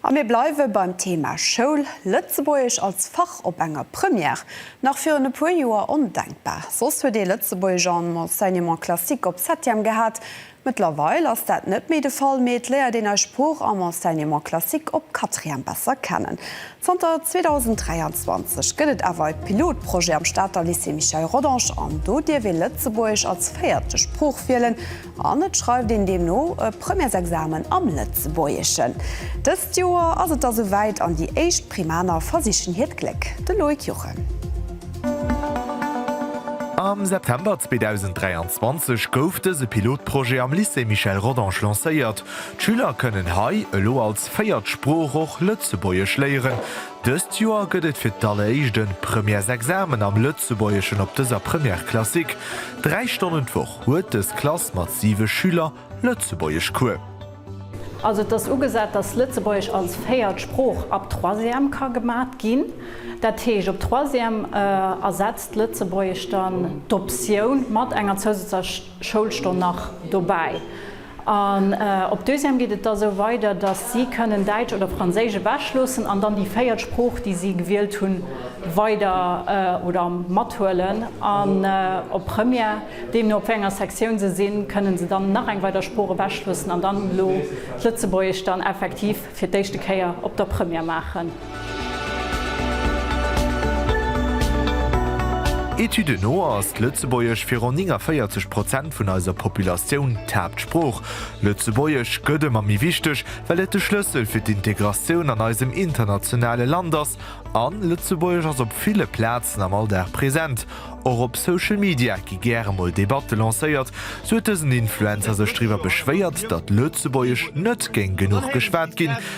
A mir bleiwe beim Thema Schoul. Lëtzebuergesch als Fach op enger Première, nach virun e puer Joer ondenkbar. Soss huet ee Lëtzebuergesch am Enseignement classique op Septième gehat. Mëttlerweil ass dat net méi de Fall, mee et léiert een eis Sprooch am Enseignement classique op Quatrième besser kennen. Zanter 2023 gëtt et awer e Pilotprojet am Stater Lycée Michel Rodange an do dierf ee Lëtzebuergesch als véierte Sprooch wielen. An et schreift een deemno e Premièresexamen am Lëtzebuergeschen. Dëst Joer ass et da sou wäit an déi éischt Primaner versichen hiert Gléck. De Loïc Juchem. Am September 2023 gouf dëse Pilotprojet am Lycée Michel Rodange lancéiert. D'Schüler kënnen hei elo als véiert Sprooch och Lëtzebuergesch léieren. Dëst Joer gëtt et fir d'alleréischt e Premièresexamen am Lëtzebuergeschen op dëser Première classique, dräi Stonnen d'Woch. Huet dës Klass mat 7 Schüler Lëtzebuergesch Cours? Also et ass ugesat, dass Lëtzebuergesch als véiert Sprooch ab Troisième ka gemat ginn. Dat heescht, op Troisième ersetzt d'Lëtzebuergesch dann d'Optioun mat enger zousätzlecher Schoulstonn nach dobäi. An op deuxième geet et da sou weider, dass si kënnen Däitsch oder Franséisch ewech loossen an dann déi véiert Sprooch, déi si gewielt hunn, weider oder mathuelen. An op Première, deemno op wéi enger Sektioun se sinn, kënnen se dann nach eng weider Sprooch ewech loossen an dann elo d'Lëtzebuergesch dann effektiv fir d'éischte Kéier op der Première maachen. Etüden no ass d'Lëtzebuergesch fir ronn 49 Prozent vun eiser Populatioun d'Haaptsprooch. Lëtzebuergesch gëtt ëmmer méi wichteg, well et de Schlëssel fir d'Integratioun an eisem internationale Land ass. An Lëtzebuergesch ass op ville Plazen am Alldag present. Och op Social Media gi gäre mol Debatte lancéiert. Sou huet dësen Influencer sech driwwer beschwéiert, datt Lëtzebuergesch net géing genuch geschwat ginn.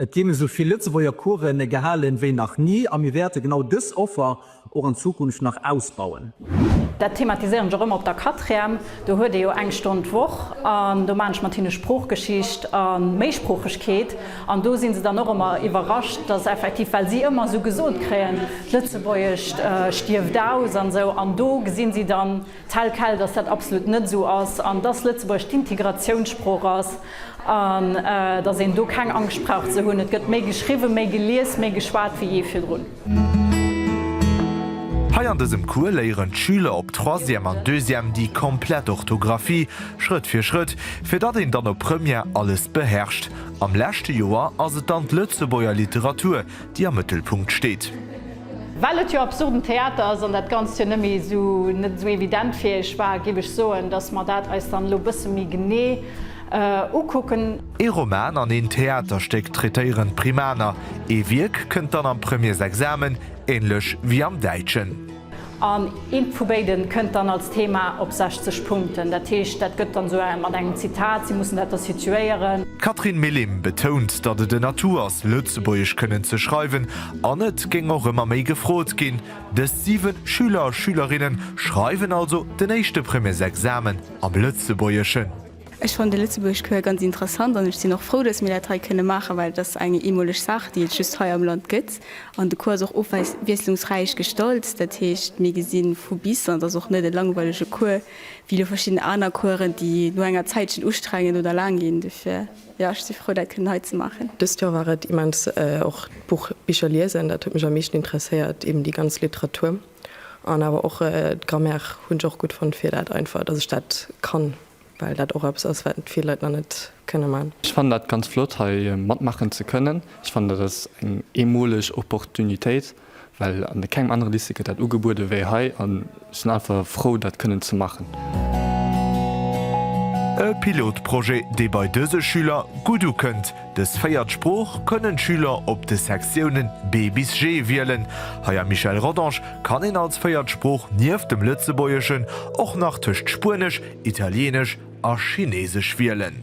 Et ginn esou vill Lëtzebuerger Couren gehalen wéi nach ni a mir wäerte genau dës Offer och an Zukunft nach ausbauen. Dat thematiséieren ech och ëmmer op der Quatrième. Do huet ee jo eng Stonn d'Woch an do maachen ech mat hinne Sproochgeschicht a Méisproochegkeet an do si se dann och ëmmer iwwerrascht, dass effektiv, well si ëmmer esou gesot kréien, d'Lëtzebuergescht stierft aus an esou an do gesinn si dann, Tel quel, dass dat absolut net esou ass an dass Lëtzebuerg d'Integratiounssprooch ass an dass een do keng Angscht brauch ze hunn. Et gëtt méi geschriwwen, méi gelies, méi geschwat wéi jee virdrun. Hei an dësem Cours léieren d'Schüler op Troisième an Deuxième déi komplett Orthografie, Schrëtt fir Schrëtt, fir datt een dann op Première alles beherrscht. Am leschte Joer ass et dann d'Lëtzebuerger Literatur, déi am Mëttelpunkt steet. Well et jo absurden Theater ass an dat Ganzt jo nëmme esou net esou evident fir Iech war, géif ech soen, dass mer dat eis dann elo e bësse méi genee ukucken. Ee Roman an een Theaterstéck traitéieren d'Primaner, ee Wierk kënnt dann am Premiersexamen, änlech wéi am Däitschen. An eent vu béiden kënnt dann als Thema op 60 Punkten. Dat heescht, dat gëtt dann esou mat engem Zitat, si mussen dat da situéieren. D'Catherine Millim betount, datt et en Atout ass, Lëtzebuergesch kënnen ze schreiwen, an et géing och ëmmer méi gefrot ginn. Dës 7 Schüler a Schülerinne schreiwen also den éischte Premiersexamen am Lëtzebuergeschen. Ech fannen de Lëtzebuerg Coeur ganz interessant an ech sinn och frou, datt mir dat hei kënne maachen, well et ass eng eemoleg Saach, déi et just hei am Land gëtt. An de Cours ass och ofwiesslungsräich gestallt, dat heescht, mir gesi vu bis an et ass och net e langweilege Cours wéi elo verschidden aner Coursen, déi no enger Zäitchen ustrengend oder laang ginn. Dofir, jo, ech si frou, dat kënnen hei ze maachen. Dëst Joer war et immens och d'Buch Bicher liesen, dat huet mech am meeschten interesséiert, eben déi ganz Literatur. An awer och d'Grammaire hunn ech och gutt fonnt, fir dat einfach, dass ech dat kann, well dat och eppes ass, wat vill Leit nach net kënne man. Ech fannen dat ganz flott hei matmaachen ze kënnen. Ech fannen dat ass eng eemoleg Opportunitéit, well an kengem anere Lycée gëtt dat ugebuede wéi hei an ech sinn einfach frou dat kënnen ze maachen. E Pilotprojet dee bei dëse Schüler gutt ukënnt. Dës véiert Sprooch kënnen d'Schüler op de Sektiounen B bis G wielen. Hei am Michel Rodange kann een als véiert Sprooch nieft dem Lëtzebuergeschen och nach tëscht Spuenesch, Italieenesch a Chineesesch wielen.